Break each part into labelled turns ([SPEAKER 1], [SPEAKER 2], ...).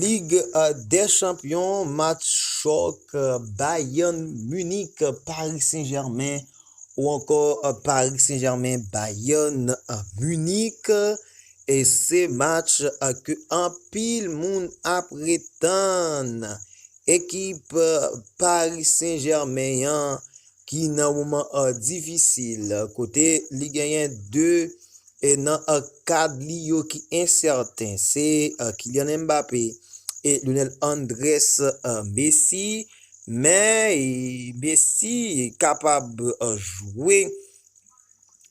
[SPEAKER 1] Lig dè chanpyon match chòk Bayern Munich Paris Saint Germain ou ankò Paris Saint Germain Bayern Munich e se match ke anpil moun ap retann ekip Paris Saint Germain an ki nan moman difisil kote li genyen 2 e nan kad li yo ki ensèten se Kylian Mbappé e Lionel Andrés Messi men Messi kapab jwe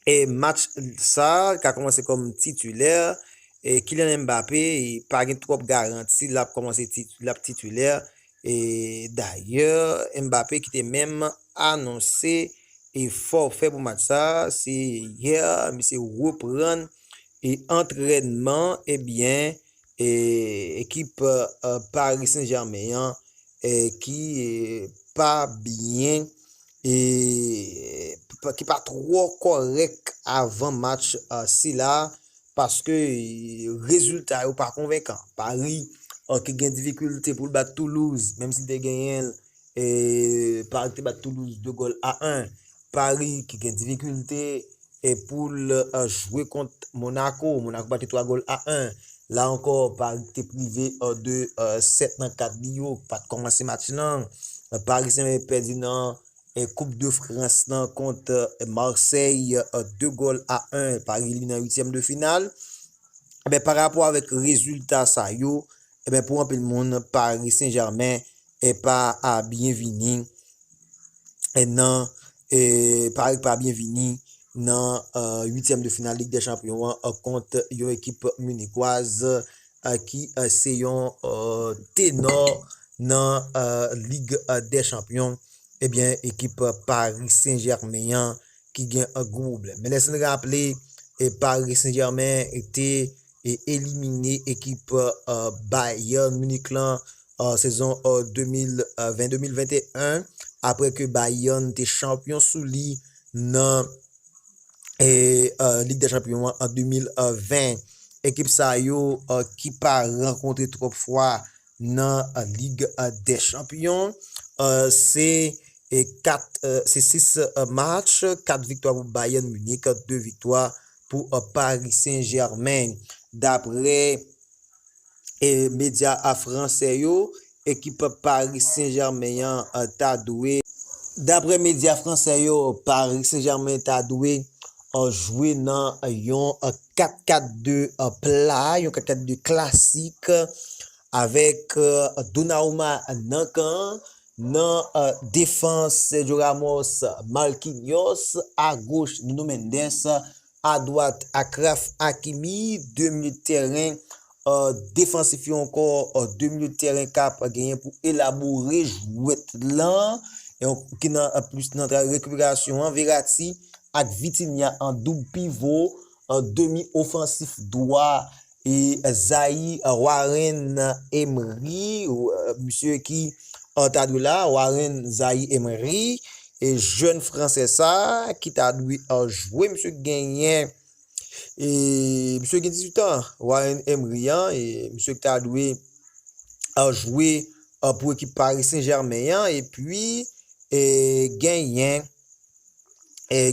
[SPEAKER 1] e match sa li ka kòmanse kòm titulè e Kylian Mbappé pa gen twòp garanti lap kòmanse lap titulè Dayè, Mbappé ki te menm anonse fòfè pou match sa, se yè misye reprann antrènman ebyen ekip Paris Saint Germain an ki pa byen ki pa twò kòrèk avan match sila paske rezilta yo pa konvenkan. Pari ki gen difikilte pou l bat Toulouse menm si te genyen l, Pari ki te bat Toulouse 2 gòl a 1, Pari ki gen difikilte. e poul jwe kont Monaco, Monaco bat li 3 gòl a 1. La ankò, Paris te prive de 7 nan 4 bi yo, pat kòmanse match lan. Paris Saint-Germain pèdi nan Koup de Frans lan kont Marseille 2 gòl a 1, Paris li nan 8èm de final. Ebyen, pa rapò avèk rezilta sa yo, ebyen pou anpil moun, Paris Saint-Germain pa a byen vini nan Paris k pa byen vini nan 8 tièm de final lig dè chanpyon an kont yon ekip munikwaz ki se yon tenò nan lig dè chanpyon ebyen ekip Paris Saint Germain an ki gen gwo pwoblèm men lè sin raple Paris Saint Germain te e elimine ekip Bayern Munich lan sezon 2020-2021 apre ke Bayern te chanpyon sou li nan Lig dè Chanpyon an an 2020. Ekip sa yo ki pa rankontre twòp fwa nan Lig dè Chanpyon, se 6 match, 4 viktwa pou Bayern Munich, 2 viktwa pou Paris Saint-Germain. Daprè medya fransè yo, ekip Paris Saint-Germain an ta dwe. Daprè medya fransè yo, Paris Saint-Germain ta dwe jwe nan yon 4-4-2 pla, yon 4-4-2 klasik avèk Donnarumma nan kan an, Nan defans, Sergio Ramos, Marquinhos, agoch Nuno Mendes, adwat Achraf Hakimi, 2 milit tèren defansif yo ankò 2 milit tèren kap genyen pou elabore jwèt lan ki nan plis nan travay rekiperasyon an, Verratti ak Vitinha an doub pivo, demi ofansif dwa Zaï Warren Emery misye ki ta dwe la Warren Zaï Emery e jèn fransè sa ki ta dwe jwe misye genyen e misye gen 18 an Warren Emery an e misye ki ta dwe jwe pou ekip Paris Saint-Germain an e pi e genyen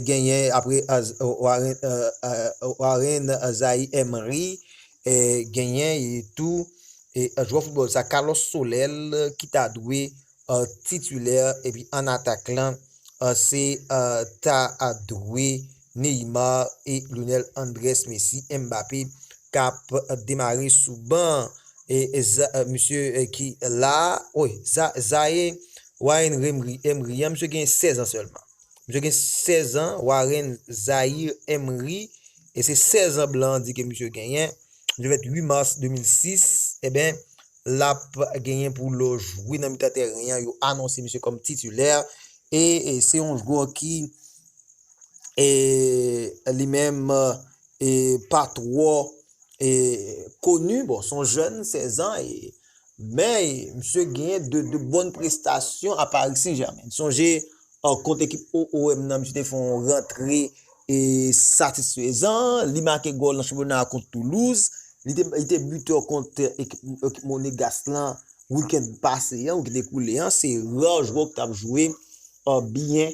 [SPEAKER 1] genyen apre Warren Zaïre Emery genyen tou jwè foutbòl sa Carlos Soler ki ta dwe titulè epi an atak lan se ta dwe Neymar e Lionel Andrés Messi Mbappé kap demare sou ban an misye ki la woy Zaïre Warren Emery an misye gen 16 an sèlman misye gen 16 an Warren Zaïre Emery e se 16 an blan an di ke misye genyen misye fèt 8 mars 2006 eben lap genyen pou lo jwe nan mitan tèren an yo anonse misye kòm titulè e se yon jwè ki e li menm e pa twò e koni, bon son jèn 16 an e men misye genyen 2 de bòn prestasyon a Paris Saint Germain. Sonje kont ekip OOM nan misye te fè yon rantre e satisfezan, li make gòl nan chanpyona a kont Toulouse, li te bitè kont ekip Monegas lan wikèn pase an, wikèn ekoule an, se rare jwè ki tap jwe byen.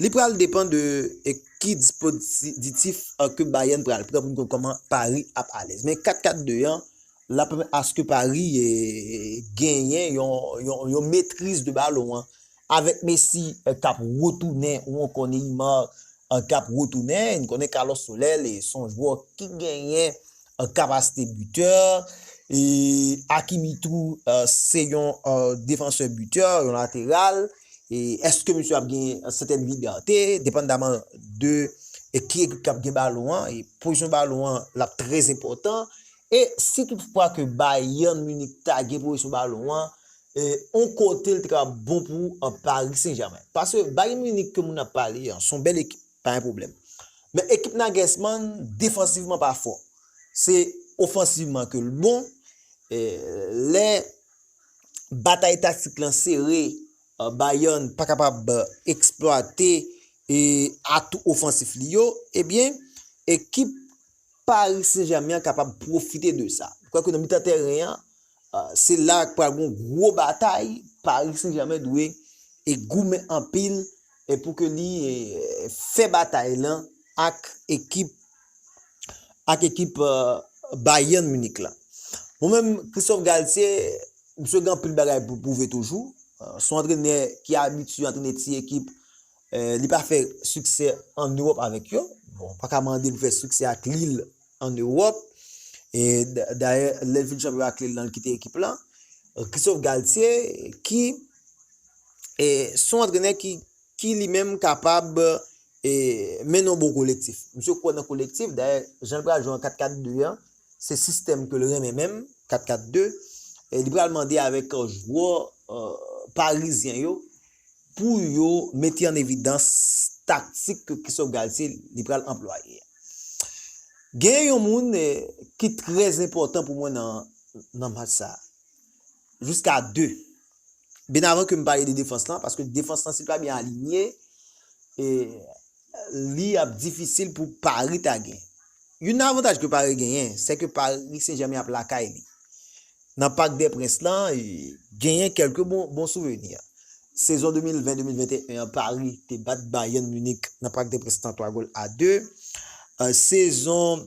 [SPEAKER 1] Li pral depan de ki dispoditif ke Bayern pral pran pou n konn koman Paris ap alèz. Men 4-4-2 an, l ap pèmèt aske Paris genyen yon metriz de balon an. Avèk Messi k ap retounen ou ankò Neymar k ap retounen, n konnen Carlos Soler li se yon jwè ki genyen kapasite bitè. Hakimi tou se yon defansè bitè, yon lateral. e eske misye ap gen yon sèten libète, depandaman de ki ekip kap gen balon an, e pozisyon balon an lap trè enpòtan, e si tout fwa ke Bayern Munich ta gen pozisyon balon an, yon kote li te kapab bon pou Paris Saint Germain. Paske Bayern Munich ke moun ap pale an, son bèl ekip, pa gen pwoblèm. Men ekip Nagelsmann, defansivman pa fò. Se ofansivman ke l bon, lè batay taktik lan sere, Bayern pa kapab eksplwate atou ofansif li yo, ebyen ekip Paris Saint Germain an kapab pwofite de sa. M kwè ke nan mitan tèren an, se la k pral gon gwo batay, Paris Saint Germain dwe goumen anpil pou ke li fè batay lan ak ekip ak ekip Bayern Munich la. Mwen menm Christophe Galtier, msye gen anpil bagay pou l pwouve toujou. Son antrenè ki abitye antrene ti ekip, li pa fè siksè an Ewòp avèk yo. Bon, ou pa ka mande pou l fè siksè ak Lille an Ewòp. E dayè, lè l fin chanpyon ak Lille lan, l kite ekip lan. Christophe Galtier ki son antrenè ki ki li menm kapab mennen yon bon kolektif. Misye kwè nan kolektif, dayè jan l pral jwe an 4 4 2 an, se sistèm ke l renmen menm, 4 4 2, li pral mande avèk jwè parizyen yo pou yo mete an evidans taktik ke Christophe Galtier li pral anplwaye. Gen yon moun ki trè enpòtan pou mwen nan match sa, jiska 2 Byen avan ke m pale de defans lan, paske defans lan si l pa byen alinye, li ap difisil pou Paris ta gen. Youn nan avantaj ke Paris genyen, se ke Paris Saint-Germain ap lakay li. Nan Parc des Princes lan, genyen kelke bon souveni. Sezon 2020-2021 an, Paris te bat Bayern Munich nan Parc des Princes lan 3 gòl a 2. Sezon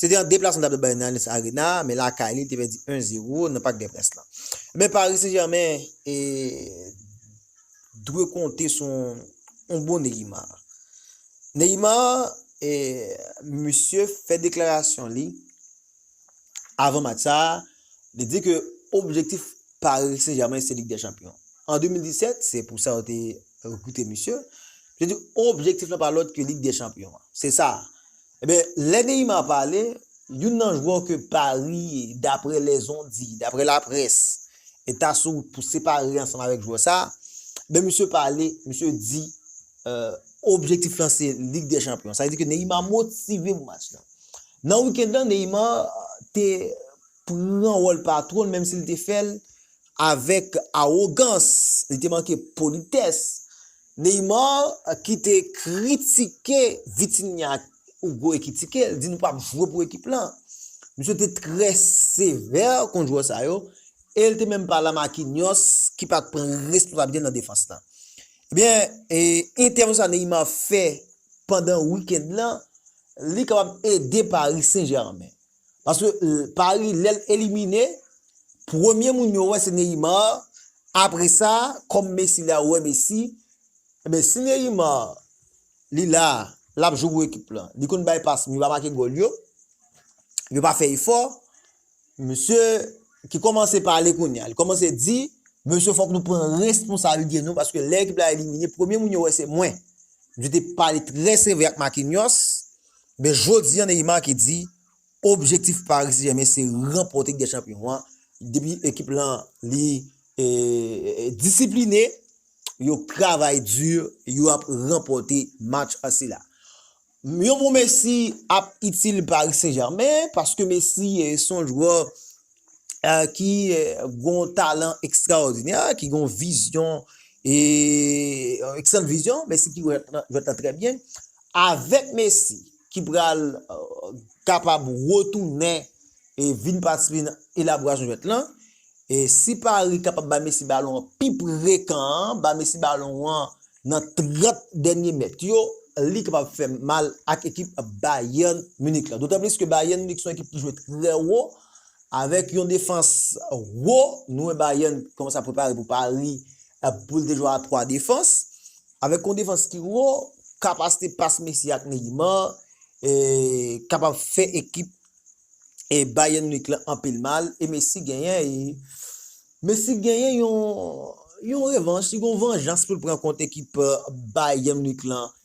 [SPEAKER 1] Se te yon deplasman ta pral bay nan Allianz Arena, men lakay li, li te pèdi 1 0 nan Parc des Princes lan. Men Paris Saint Germain e dwe konte sou yon bon Neymar. Neymar e misye fè deklarasyon li avan match sa, li di ke objektif Paris Saint Germain se Ligue des Champions. An 2017, se pou sa yo te rekrite misye, li te di objektif lan pa lòt ke Ligue des Champions. Se sa, Ebyen, lè Neymar pale, youn nan jwè ke Paris, daprè lèzondi, daprè laprès, ta sou wout pou separe ansanm avèk jwè sa, ebyen misye pale, misye di objektif lan se Lig dè Chanpyon. Sa vle di ke Neymar motive pou match lan. Nan weekend lan, Neymar te pran wòl patwon l, menm si l te fè l avèk awogans, li te manke politès. Neymar ki te kritike Vitinha ak Hugo Ekitike, l di nou pap jwe pou ekip lan. Misye te trè sevè kont jwè sa yo e l te menm pale a Marquinhos ki pat pran responsabilite nan defans lan. Ebyen, entèvansyon sa Neymar fè pandan weekend lan, li kapab ede Paris Saint Germain. Paske Paris lèl elimine premye moun yo wè se Neymar apresa kòm Messi la yo wè Messi ebyen si Neymar li la lap jwe pou ekip la li konn bay pas men li pa make gòl yo yo pa fè efò misye ki kòmanse pale kounya li kòmanse di mesye fòk nou pran responsabilite nou paske lè ekip la elimine premye moun yo wè se mwen misye te pale trè sevè ak Marquinhos Men jodi an Neymar ki di objektif Paris Saint Germain se ranpòte Lig dè Chanpyon an depi ekip lan li disipline, y op travay di, y op ranpòte match sila. Yon bon Messi ap itil Paris Saint Germain paske Messi son jwè ki gon talan ekstraòdinè, ki gon vizyon, e eksant vizyon, Messi ki jwèt lan trè byen, avèk Messi ki pral kapab retounen e vin patisipe nan elaborasyon jwèt lan, e si Paris kapab bay Messi balon an pi pre kan an, bay Messi balon an nan 30 dènye mèt yo, li kapab fè mal ak ekip Bayern Munich lan. Dotanplis ke Bayern Munich se yon ekip ki jwe trè wo, Avèk yon defans wo, nou wè Bayern kòmanse ap prepare pou Paris pou l te jwe a 3 defans. Avèk yon defans ki wo, kapasite pas Messi ak Neymar kapab fè ekip Bayern Munich lan anpil mal e Messi genyen yon revanch, li gen yon vanjans pou l pran kont ekip Bayern Munich lan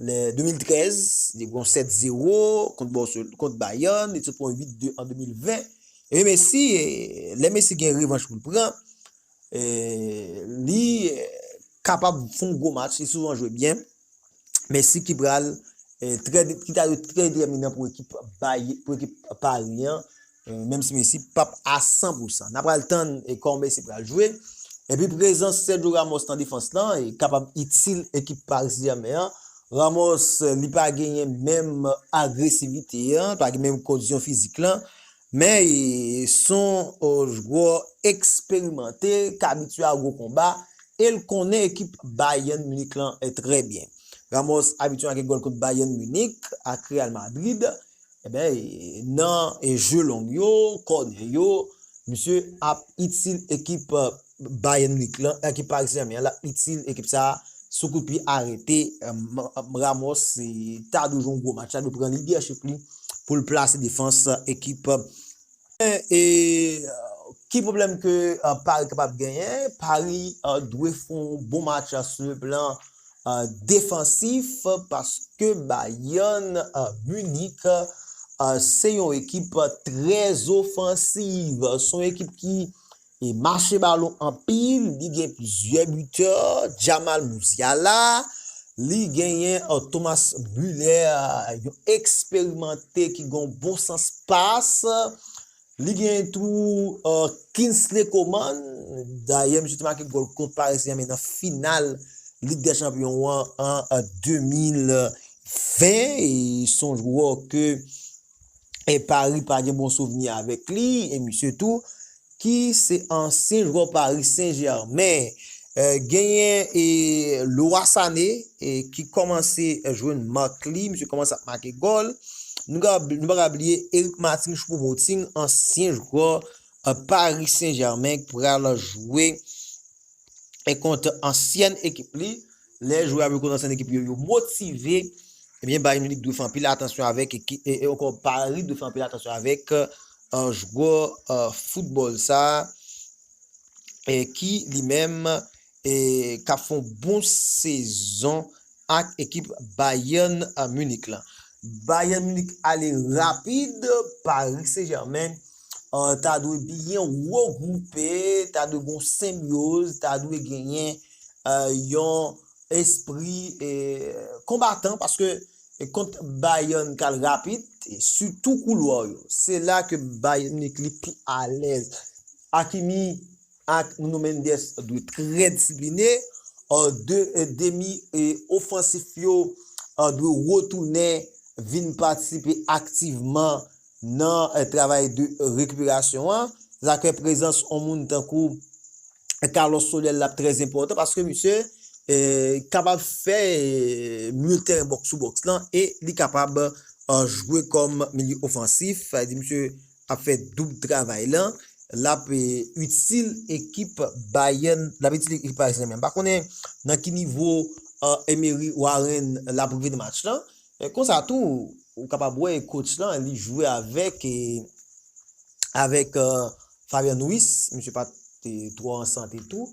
[SPEAKER 1] Le 2013, li pran 7 zero kont Bayern, li sot pran 8 de an 2020. E Messi, le Messi gen revanch pou l pran, li kapab fon gwo match, li souvan jwe byen. Messi ki pral, ki ta dwe trè determinan pou ekip Paris an, Menm si Messi pap a 100 pou 100. Na pral tann e kòman Messi pral jwe. Epi prezans Sergio Ramos nan defans la kapab itil ekip Paris Saint Germain an. Ramos li pa genyen menm agresivite an, li pa gen menm kondisyon fizik lan. Men son jwè eksperimante k abitye a gwo konba e l konnen ekip Bayern Munich lan trè byen. Ramos abitye make gòl kont Bayern Munich ak Real Madrid. Ebyen nan jeux long yo, kònè yo, misye ap itil ekip Bayern Munich lan, ekip Paris Saint-Germain an, lap itil ekip sa sou kout pye arete. Ramos ta dwe jwe yon gwo match, ta dwe pran lidèchip li poul plase defans ekip Men, ki pwoblèm ke Paris kapab genyen? Paris dwe fè yon bon match sou le plan defansif paske Bayern Munich se yon ekip trè ofansiv. Se yon ekip ki E mache balon anpil, li gen plizyè bitè, Jamal Musiala, li genyen Thomas Muller, yon eksperimante ki gen yon bon sans pas, li genyen tou Kingsley Coman, dayè misye te make gòl kont Paris Saint-Germain nan final Lig dè Chanpyon an an 2020, e son jwè ke e Paris pa gen bon souvni avèk li e misye tou ki se ansyen jwè Paris Saint Germain genyen e Leroy Sané ki kòmanse jwenn mak li misye kòmanse ap make gòl nou pa ka bliye Eric Martin Choupo-Moting ansyen jwè Paris Saint Germain pral jwe e kont ansyen ekip li Lè jwè a vle konnen san ekip li yo motive, ebyen Bayern Munich dwe fè anpil atansyon avèk e ankò Paris dwe fè anpil atansyon avèk jwè foutbòl sa ki li menm kap fè yon bon sezon ak ekip Bayern Munich la. Bayern Munich ale rapid, Paris Saint Germain ta dwe byen regwoupe, ta dwe gen yon senbyoz, ta dwe genyen yon espri konbatan paske kont Bayern kal rapid sitou koulwa yo se la ke Bayern Munich li pi alèz Hakimi ak Nuno Mendes dwe trè disipline 2 demi ofansif yo dwe retounen vin patisipe aktivman nan travay de rekiperasyon an, se sa k fè prezans on moun tankou Carlos Soler la trè enpòtan paske misye kapab fè mil tèren bòks sou bòks lan e li kapab jwe kòm milye ofansif, sa vle di misye ap fè doub travay lan, l ap itil ekip Bayern, l ap itil ekip Paris Saint-Germain. M pa konnen nan ki nivo Emery Warren l ap rive nan match lan, E konsa tou ou kapab wè coach lan li jwe avèk avèk Fabian Ruiz, misye pat twò an sante tou.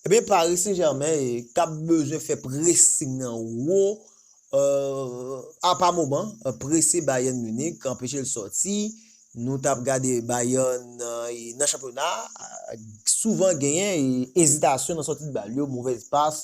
[SPEAKER 1] Ebyen Paris Saint Germain tap bezwen fè pressing nan wo a pa moman, prese Bayern Munich, anpeche l sòti, nou tap gade Bayern nan chanpyona souvan genyen ezitasyon nan sòti bal yo, movèz pas,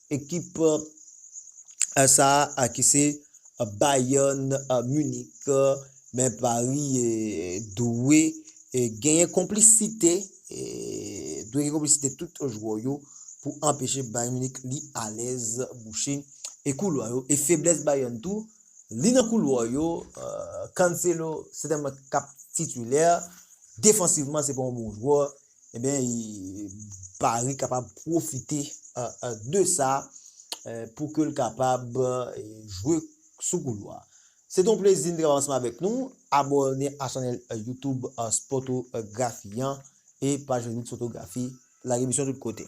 [SPEAKER 1] Ekip sa a ki se Bayern Munich men Paris dwe genyen konplisite dwe gen konplisite tout jwè yo pou anpeche Bayern Munich li alèz bouche e koulwa yo e feblès Bayern tou li nan koulwa yo Cancelo sètènman kap titilè defansivman se pa yon bon jwè Ebyen Barry kapab pwofite de sa pou ke l kapab jwe sou koulwa. Se te yon plezi m te kapab ansanm avèk nou. Abòne a chanèl YouTube Sportography an e paj Facebook Sportography. Lage misyon tout kote.